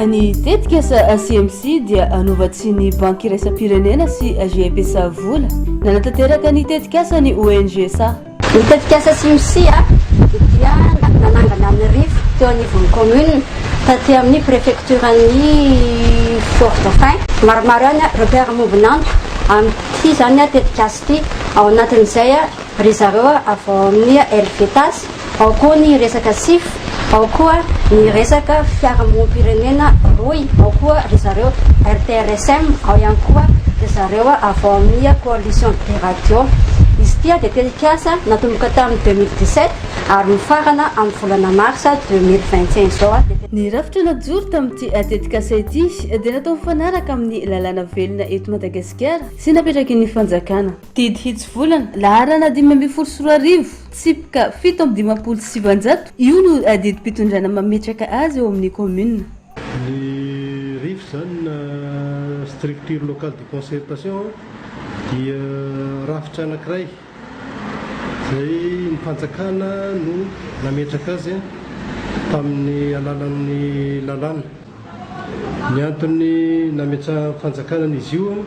Ny tetika sa CMC dia anovantsiny banky iraisam-pirenena sy GPSA vola. Nanatanteraka ny tetikasa ny ONG sa. Ny tetikasa CMC dia nanangana amin'ny rivo teo anivon'ny commune taty amin'ny préfecturan'ny Fort Dauphin. Maromaro ihany ireo mpiara-mombon'antoka amin'ity izany tetikasa. Ty ao anatin'izay ry zareo avy ao amin'ny Helvetas, ao koa ny resaka sif, ao koa ny resaka fiarahamonim-pirenena rohy, ao koa ry zareo RTRSM, ao ihany koa ry zareo avy ao amin'ny Coalition des radios. Izy ty dia tetikasa natomboka tamin'ny deux mille dix-sept ary mifarana amin'ny volana marsa deux mille vingt et un izao. Ny rafitra najoro tamin'ity tetikasa ity dia natao mifanaraka amin'ny lalàna velona eto Madagasikara, Tsy napetraky ny fanjakana. Didy hitsivolana, laharana dimy ambin'ny folo sy roa arivo, tsipika fito amby dimampolo sy sivanjato, io no didim-pitondrana mametraka azy eo amin'ny kaominina. Ny rif izany na Structure Locale de Concertation dia rafitra anankiray. izay ny fanjakana no nametraka azy tamin'ny alalan'ny lalàna. Ny antony nametrahan'ny fanjakana an'izy io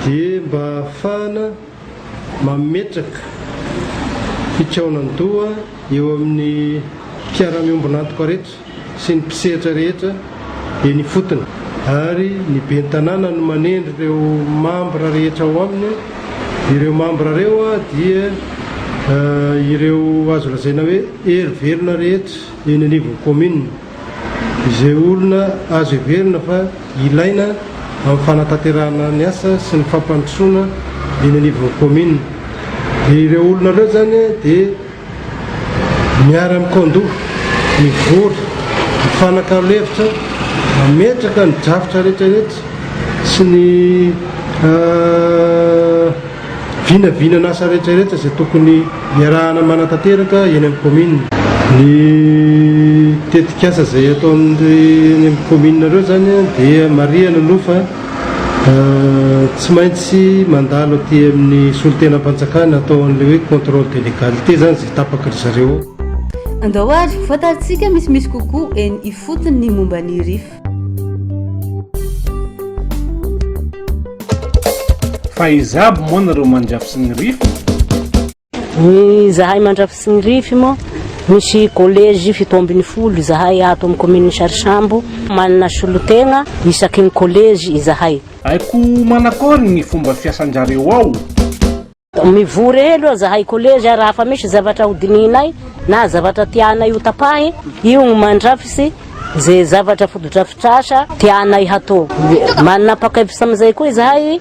dia mba hahafahana mametraka fikaonan-doha eo amin'ny mpiara-miombon'antoka rehetra. sy ny mpisehatra rehetra eny ifotony. Ary ny Ben'ny Tanàna no manendry ireo mambra rehetra ao aminy. Ireo mambra ireo dia ireo azo lazaina hoe hery velona rehetra eny anivon'ny kaominina. Izay olona azo heverina fa ilaina amin'ny fanatanterahana ny asa sy ny fampandrosoana eny anivon'ny kaominina. Dia ireo olona ireo izany dia. Miara-mikao-doha, mivory, mifanakalo hevitra, mametraka ny drafitra rehetrarehetra sy ny vinavinan'asa rehetrarehetra izay tokony iarahana manatanteraka eny amin'ny kaominina. Ny tetikasa izay ataon'ireo eny amin'ny kaominina ireo izany dia marihana aloha fa. Tsy maintsy mandalo aty amin'ny solontenam-panjakana atao an'ilay hoe contrôle de légalité izany izay tapaky ry zareo ao. Andao ary ho fantarintsika misimisy kokoa eny ifotony ny momba ny rif. Fa iza aby moa nareo mandry afisiny rif? Ny zahay Mandrafy sy ny Rify moa misy collège fito ambin'ny folo izahay ato amin'ny commune Sarisambo. Manana solotegna isaky ny collège izahay. Haiko manakory ny fomba fiasan-dRareo ao. Mivory eo aloha zahay collège raha fa misy zavatra ho dinihinay na zavatra tianay ho tapahy io no mandrafisy ze zavatra fotodrafitrasa tianay hatao. Manapakevitra amizay koa izahay.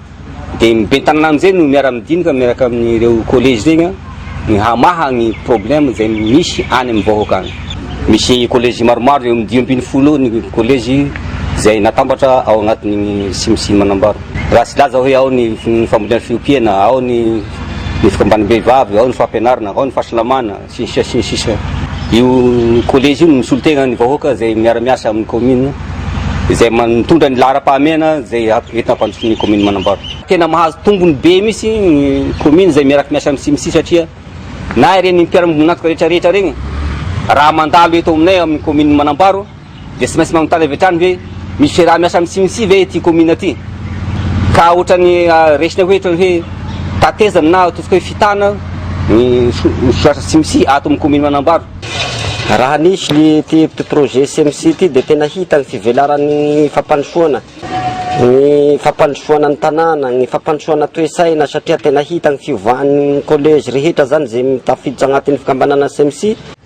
Dia ny ben'ny tanàna amin'izay no miara-midinika miaraka amin'ireo collège ireny ny hamaha ny problème izay misy any amin'ny vahoaka any. Misy collège maromaro eo amin'ny dimy ambin'ny folo eo ny collège izay natambatra ao anatin'ny CIMC Manambaro. Raha tsy hilaza hoe ao ny fambolena sy fiompiana, ao ny ny fikambanam-behivavy, ao ny fampianarana, ao ny fahasalamana, sy ny sisa sy ny sisa. Io collège io no misolo tegna ny vahoaka izay miara miasa amin'ny commune izay mitondra ny laharam-pahamehana izay entina hampandrosoana ny commune Manambaro. Tena mahazo tombony be mihitsy ny commune izay miaraky miasa amin'ny CMC satria na ireny mpiara monina antoka rehetra rehetra regny raha mandalo eto aminay amin'ny commune Manambaro, Dia tsy maintsy manontany avy hatrany hoe misy fiaraha miasa amin'ny Cimci ve ity commune ity? Ka ohatrany resiny hoe ohatrany hoe tatezana na ataontsika hoe fitana ny soratra Cimci ato amin'ny commune Manambaro. Raha nisy ny ity petit projet Cimci ity dia tena hita ny fivelaran'ny fampandrosoana ny fampandrosoana ny tanàna, ny fampandrosoana toe-tsaina satria tena hita ny fiovan'ny collège rehetra izany izay tafiditra anatin'ny fikambanana Cimci.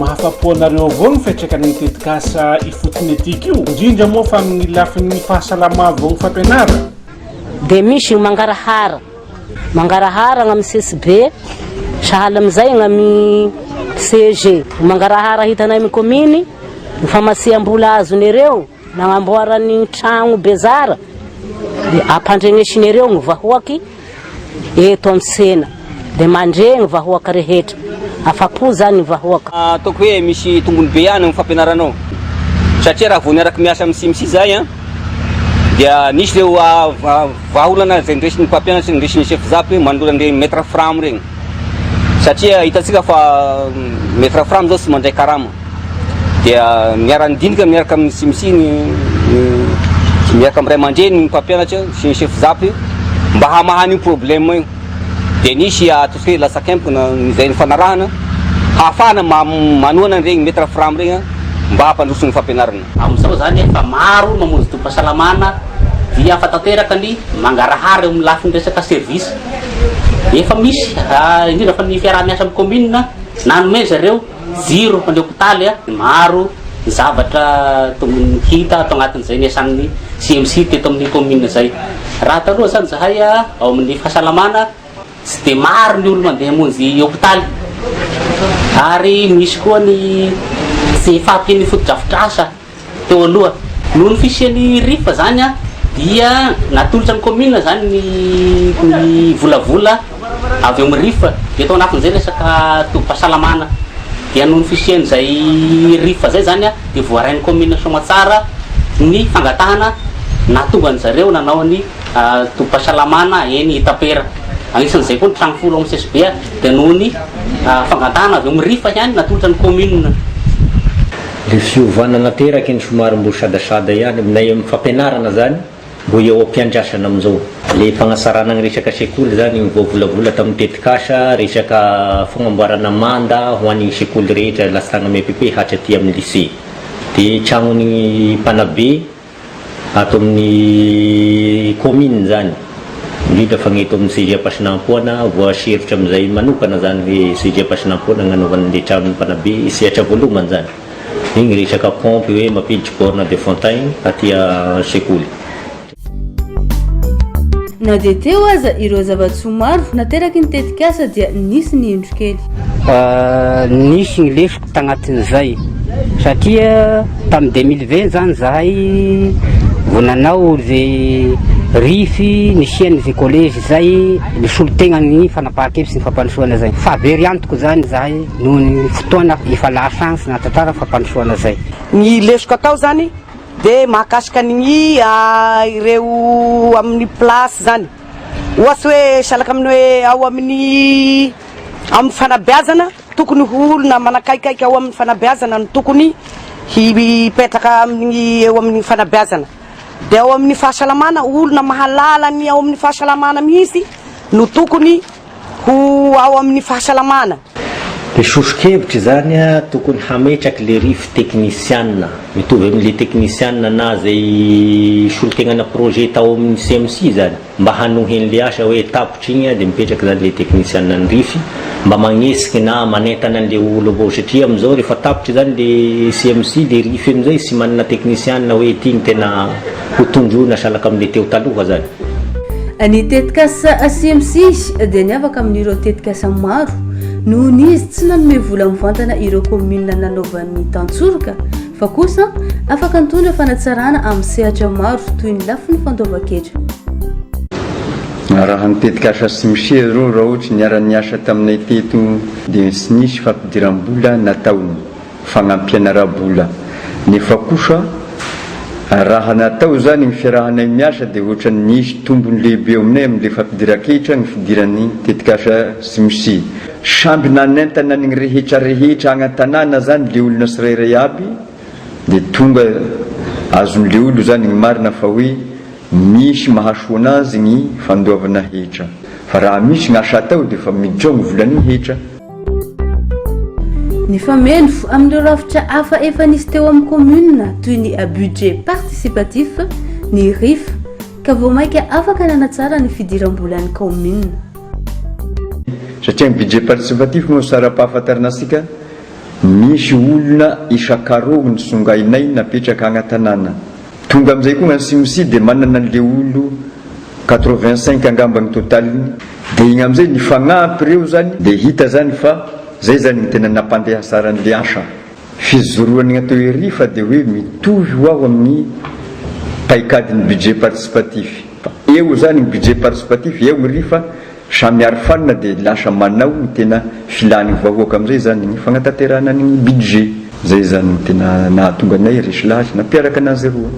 Mahafa-po anareo avao ny fiantraikan'ny tetikasa ifotony ity ko, indrindra moa fa amin'ny lafin'ny fahasalama vao ny fampianarana. Dia misy io mangarahara, mangarahara amin'ny CSB, sahala amin'izay amin'ny CEG. Mangarahara hitanay amin'ny kominy, ny famasihambola azon'ireo. Nagnamboara ny tragno bezara dia ampandregnesin'ireo ny vahoaky eto an-tsena dia mandre ny vahoaka rehetra. Afa-po izany ny vahoaka. Ataoko hoe misy tombony be ihany ny fampianaranao satria raha vao niaraka miasa amin'ny CIMC izahay an, dia nisy ireo vahaolana izay niraisin'ny mpampianatra, niraisin'ny chef zap hoe manolo an'ireny maitre fram ireny. satria hitantsika fa ny frafram izao tsy mandray karama dia miara-nidinika miaraka amin'ny simisi ny miaraka amin'ny ray aman-dreny ny mpampianatra sy ny chef zapy mba hamahana io problème io dia nisy ataontsika hoe latsakempona izay ny fanarahana hahafahana manohana an'iregny maître fram regny mba hampandroso ny fampianarana amin'izao zany efa maro mamonjy tobim-pahasalamana dia hafa tanteraka ny mangarahara eo amin'ny lafiny resaka service Efa misy, indrindra fa ny fiaraha-miasa amin'ny kaominina, nanome zareo jiro an'ilay hopitaly. Maro ny zavatra hita ato anatin'izay niasan'ny CMC teto amin'ny kaominina izay. Raha taloha izany izahay ao amin'ny fahasalamana, tsy dia maro ny olona mandeha hamonjy hopitaly. Ary misy koa ny tsy fahampian'ny fotodrafitrasa. Teo aloha, noho ny fisian'ny rifa izany dia natolotra ny kaominina izany ny ny volavola avy eo amin'ny rifa. Dia tao anatin'izay resaka tobim-pahasalamana. Dia noho ny fisian'izay rifa izay izany dia voarain'ny kaominina Soamatsara ny fangatahana nahatonga an'i zareo nanao ny tobim-pahasalamana eny Itapera. Anisan'izay koa ny trano folo ao amin'ny CSB dia noho ny fangatahana avy eo amin'ny rifa ihany natolotra ny kaominina. Le fiovana nateraky iny somary mbo sadasada ihany aminay am fampianarana zany mbo eo ampiandrasana amzao. Le fagnasarana gny resaka sekoly zany gny voavolavola tam tetikasa resaka fagnamboarana manda ho any sekoly rehetra lastagna miapepe hatraty am lycée. De tragnony mpanabe. Ato amin'ny kaominina izany, indrindra fa ny eto amin'ny CEG Ampasinampoana, voaserotra amin'izay manokana izany hoe CEG Ampasinampoana no hanaovana an'ilay tranon'ny mpanabe sehatra voalohany izany. Dia ny resaka pompy hoe mampiditry borne de fontaine aty an-tsekoly. Na dia teo aza ireo zava-tsoa maro nateraky ny tetikasa dia nisy ny indro kely. Nisy ny lesoka. tagnatin'izay satria tamin'ny deux mille vingt zany zahay vao nanao ze rify nisiany ze collège zay nisolo tegna ny fanapahan-kevitry ny fampandrosoana zay fa very antoko zany zahay noho ny fotoana efa lahasahantsy nahatantara ny fampandrosoana zay ny lesoka atao zany de mahakasika ny ireo amin'ny place zany ohatsy hoe salaka amin'ny hoe ao amin'ny amin'ny fanabeazana Tokony ho olona manakaikaika ao amin'ny fanabeazana no tokony hipetraka amin'ny eo amin'ny fanabeazana. Dia ao amin'ny fahasalamana, olona mahalala ny ao amin'ny fahasalamana mihitsy no tokony ho ao amin'ny fahasalamana. Be soso-kevitra izany a! Tokony hametraky le rif teknisianina, mitovy amin'le teknisianina na zay solontenana projet tao amin'ny CMC izany. mba hanohy an'le asa hoe tapitra igny de mipetraka zany le technician an'rify mba magnetsiky na manentana an'le olo avao satria amzao refa tapitra zany le CMC de rify amzay sy manana technician hoe ty gny tena ho tondroina salaka amle teo taloha zany. Ny tetikasa CMC dia niavaka amin'ireo tetikasa maro noho ny izy tsy nanome vola mivantana ireo commune nanaovan'ny tantsoroka, fa kosa afaka nitondra fanatsarana amin'ny sehatra maro toy ny lafiny fandoavan-ketra. Raha ny tetikasa Smshe izao raha ohatry niara-niasa taminay teto dia tsy nisy fampidiram-bola nataony fagnampihana ara-bola nefa kosa raha natao izany ny fiarahanay miasa dia ohatry ny nisy tombony lehibe eo aminay amin'ilay fampidiran-ketra ny fidiran'ny tetikasa Smshe. Samby nanentana ny rehetra rehetra agny an-tanàna zany leolona sirairay aby dia tonga azon'ny leolo zany gny marina fa hoe misy mahasoa anazy gny fandoavana hetra fa raha misy gny asa atao dia fa miditra ao gny volan'ny hetra. Nifameno amin'ireo rafitra hafa efa nisy teo amin'ny commune toy ny budget participatif, ny rif, ka vao maika afaka nanatsara ny fidiram-bolan'ny kaominina. Satria ny budget participatif moa sara-pahafantarana antsika, misy olona isan-karogny songainay napetraka agny an-tanàna. Tonga amin'izay koa gn'an'i Simsi dia manana an'le olo quatre-vingt cinq angamba ny totaliny, dia igny amin'izay ny fagnampy reo zany dia hita zany fa zay zany ny tena nampandehasaran'le asa. Fijoroan'ny atao ery fa dia hoe mitovy ho aho amin'ny paikadin'ny budget participatif. Fa eo izany ny budget participatif, eo iry fa samy arofanina dia lasa manao ny tena filan'ny vahoaka amin'izay izany ny fanatanterahana ny budget. Izay izany no tena nahatonga anay ry Schlatt nampiaraka anazy roa.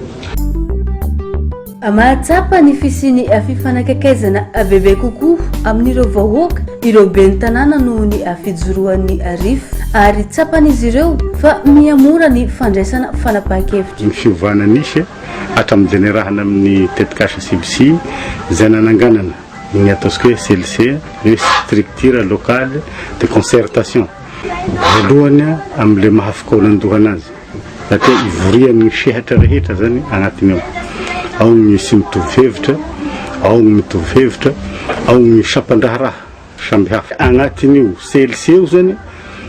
Mahatsapa ny fisian'ny fifanakaikezana bebe kokoa amin'ireo vahoaka ireo ben'ny tanàna noho ny fijoroan'ny RIF ary tsapan'izy ireo fa mihamora ny fandraisana fanapahan-kevitra. Ny fiovana nisy hatramin'ny jenerahan'ny amin'ny tetikasa CBC izay nananganana ny ataontsika hoe CLC, hoe Structure Locale de Concertation, voalohany amin'ilay maha fikaonandohana azy. Satria ivorian'ny sehatra rehetra izany agnatiny ao. Ao ny tsy mitovy hevitra, ao ny mitovy hevitra, ao ny sampan-draharaha samihafa. Agnatin'io CLC io izany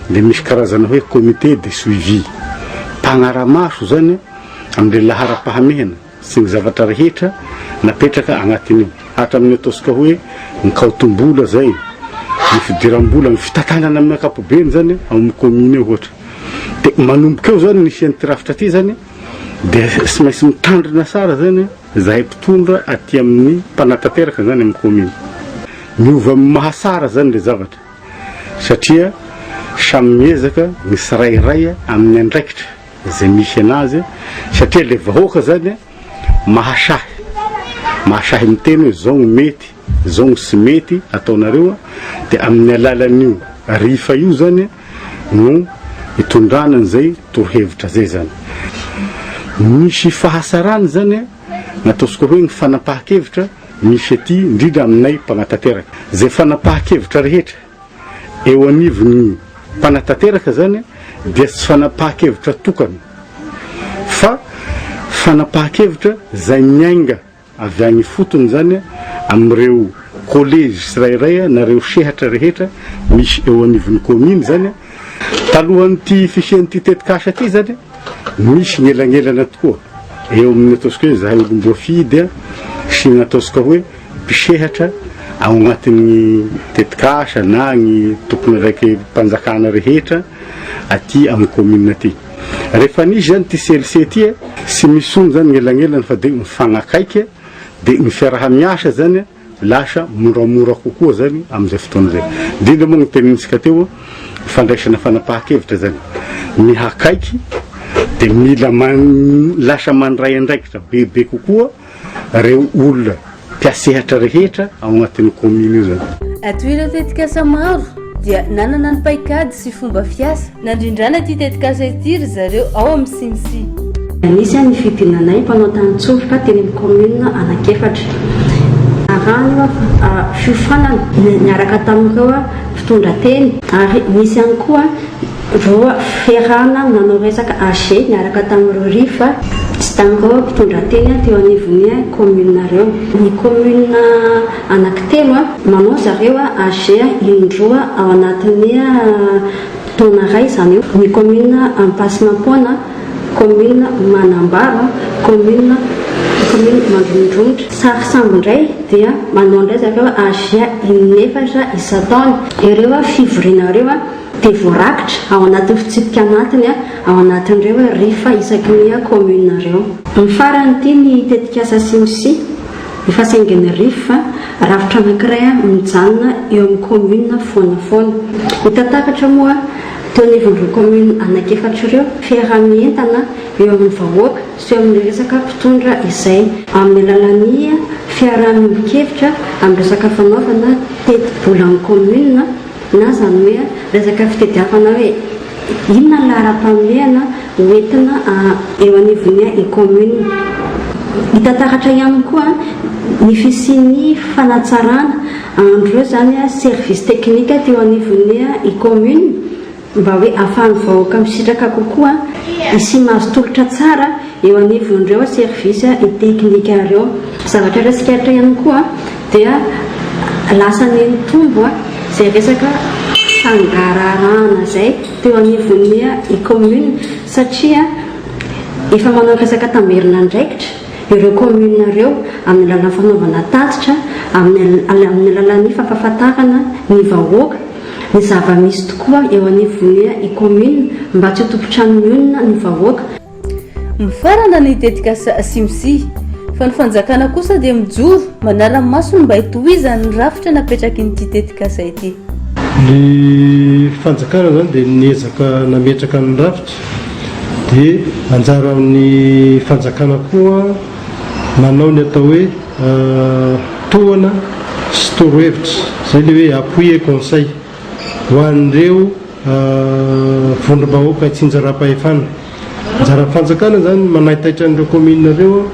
dia misy karazana hoe comité de suivi, mpagnara-maso izany amin'ny laharam-pahamehana. sy ny zavatra rehetra napetraka agnatin'io hatramin'ny ataontsika hoe ny kaotim-bola zay, ny fidiram-bola, ny fitantanana amin'ny ankapobeny zany ao amin'ny commune eo ohatra. De manomboka eo zany ny hisian'ity rafitra ty zany de tsy maintsy mitandrina tsara zany zahay mpitondra aty amin'ny mpanatanteraka zany amin'ny commune. Miova amin'ny maha tsara zany le zavatra satria samy miezaka ny tsirairay amin'ny andraikitra. izay misy anazy satria ilay vahoaka zany a mahasahy mahasahy miteny hoe zao ny mety zao ny tsy mety ataonareo dia amin'ny alalan'io rifa io zany no hitondrana an'izay torohevitra zay zany misy fahasarany zany nataosika hoe ny fanapahan-kevitra misy aty indrindra aminay mpanatanteraka zay fanapahan-kevitra rehetra Eo anivon'ny mpanatanteraka izany dia tsy fanapahan-kevitra tokana fa fanapahan-kevitra izay miainga avy any ifotony izany amin'ireo kolejy tsirairay na ireo sehatra rehetra misy eo anivon'ny kaominy izany. Talohan'ity fisian'ity tetikasa ity izany misy ny elanelana tokoa eo amin'ny ataontsika hoe izahay olom-boafidy sy ny ataontsika hoe mpisehatra ao anatin'ny tetikasa na ny tomponandraiki-panjakana rehetra aty amin'ny commune aty. Rehefa nisy izany ity CLC ity, tsy misy intsony izany ny elanelany fa dia mifanakaiky dia ny fiaraha-miasa izany lasa moramora kokoa izany amin'izay fotoana izay. Indrindra moa ny tenenintsika teo, fandraisana fanapahan-kevitra izany. Mihakaiky dia mila man, lasa mandray andraikitra bebe kokoa. reo olona mpiasehatra rehetra ao anatin'ny commune io zany. Ato ireo tetikasa maro dia nanana ny paikady sy fomba fiasa nandrindrana ity tetikasa ity ry zareo ao amin'ny CNCI. Nisy aho nifidinanay mpanao tanin-tsolika teny amin'ny commune anankiefatra. Arahina fa fiofanana niaraka tamin'ireo mpitondra teny ary nisy ihany koa Roa, Ferrana nanao resaka AG niaraka tamin'i Rory fa tsy tandreo mpitondra teny teo anivon'ny commune reo. Ny commune anaky telo manao zareo AG in-droa ao anatin'ny taona ray izany eo, ny commune Ampasimampoana, commune Manambaro, commune commune Mandromondromotra. Sary sambo indray dia manao indray zareo AG in-efatra isan-taona. Ireo fivoriana ireo. dia voarakitra ao anatin'ny fitsipika anatiny ao anatin'ireo RIF isaky ny commune ireo. Ny farany ity ny tetikasa Simsi, efa saingin'ny RIF, rafitra anankiray mijanona eo amin'ny commune foana foana. Hita takatra moa teo anivon'ireo commune anankiefatra ireo fiaraha-mientana eo amin'ny vahoaka sy eo amin'ny resaka mpitondra izay amin'ny alalan'ny fiaraha-miombon-kevitra amin'ny resaka fanaovana teti-bolan'ny commune, Na zany hoe resaka fitediavana hoe inona ny laharam-pahamehana ho entina eo anivon'ny commune. Hita taratra ihany koa ny fisian'ny fanatsarana an'ireo zany service technique teo anivon'ny commune mba hoe afahan'ny vahoaka misitraka kokoa sy mahazo tolotra tsara eo anivon'ireo service technique ireo. Zavatra raisiko eto ihany koa. dia lasa nenitombo izay resaka fangaraharahana izay teo anivon'ny i commune satria efa manao resaka tamberin'andraikitra ireo commune ireo amin'ny alalan'ny fanaovana tatitra amin'ny amin'ny alalan'ny fampahafantarana ny vahoaka ny zava-misy tokoa eo anivon'ny i commune mba tsy ho tompon-trano mionona ny vahoaka Mifarana ny tetikasa Simsi, fa ny fanjakana kosa dia mijoro manara-maso ny mba hitohizany ny rafitra napetrakin'ity tetikasa ity. Ny fanjakana izany dia niezaka nametraka ny rafitra, dia anjaran'ny fanjakana koa manao ny atao hoe tohana sy torohevitra, izay ilay hoe appui et conseil. Ho an'ireo vondrom-bahoaka tsy anjara-pahefana, anjaran'ny fanjakana izany ny manaitaitra an'ireo kaominina ireo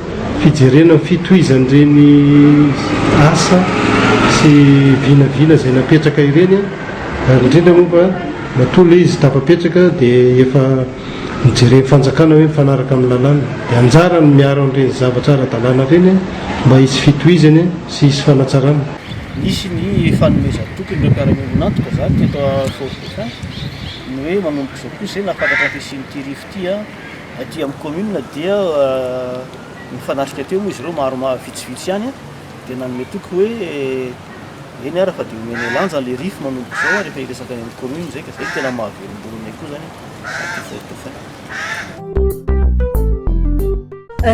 fijerena ny fitohizan'ireny asa sy vinavina izay napetraka ireny ary indrindra moa fa matoa ilay izy tafapetraka dia efa nojeren'ny fanjakana hoe mifanaraka amin'ny lalàna. Dia anjarany miaro an'ireny zavatra ara-dalàna ireny mba hisy fitohizany sy hisy fanatsarana. Nisy ny fanomezan-toky an'ireo mpiara-miombon'antoka zany teto Fort Dauphin ny hoe manomboka izao koa izay nahatakatra ny fisian'ity rivo ity aty amin'ny commune dia nifanatrika teo moa izy ireo maromaro vitsivitsy ihany dia nanome toky hoe eny ara fa dia homenay lanja an'ilay rivo manomboka izao rehefa hiresaka any amin'ny commune izay ka izay no tena mahavelom-bolo anay koa izany aty Fort Dauphin.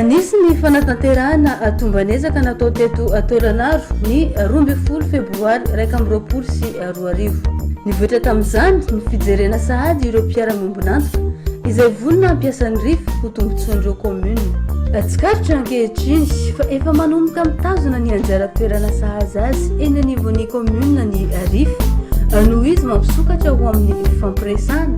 Nisy ny fanatanterahana tomban'ezaka natao teto Tôlanaro ny roa ambin'ny folo febroary iraika amby roapolo sy roa arivo. Nivoitra tamin'izany ny fijerena sahady ireo mpiara-miombon'antoka izay vonona hampiasan'ny RIF ho tombontsoan'ireo kaominina. Tsikaritra ankehitriny fa efa manomboka mitazona ny anjara toerana sahaza azy eny anivon'ny kaominina ny RIF noho izy mampisokatra ho amin'ny fifampiresahana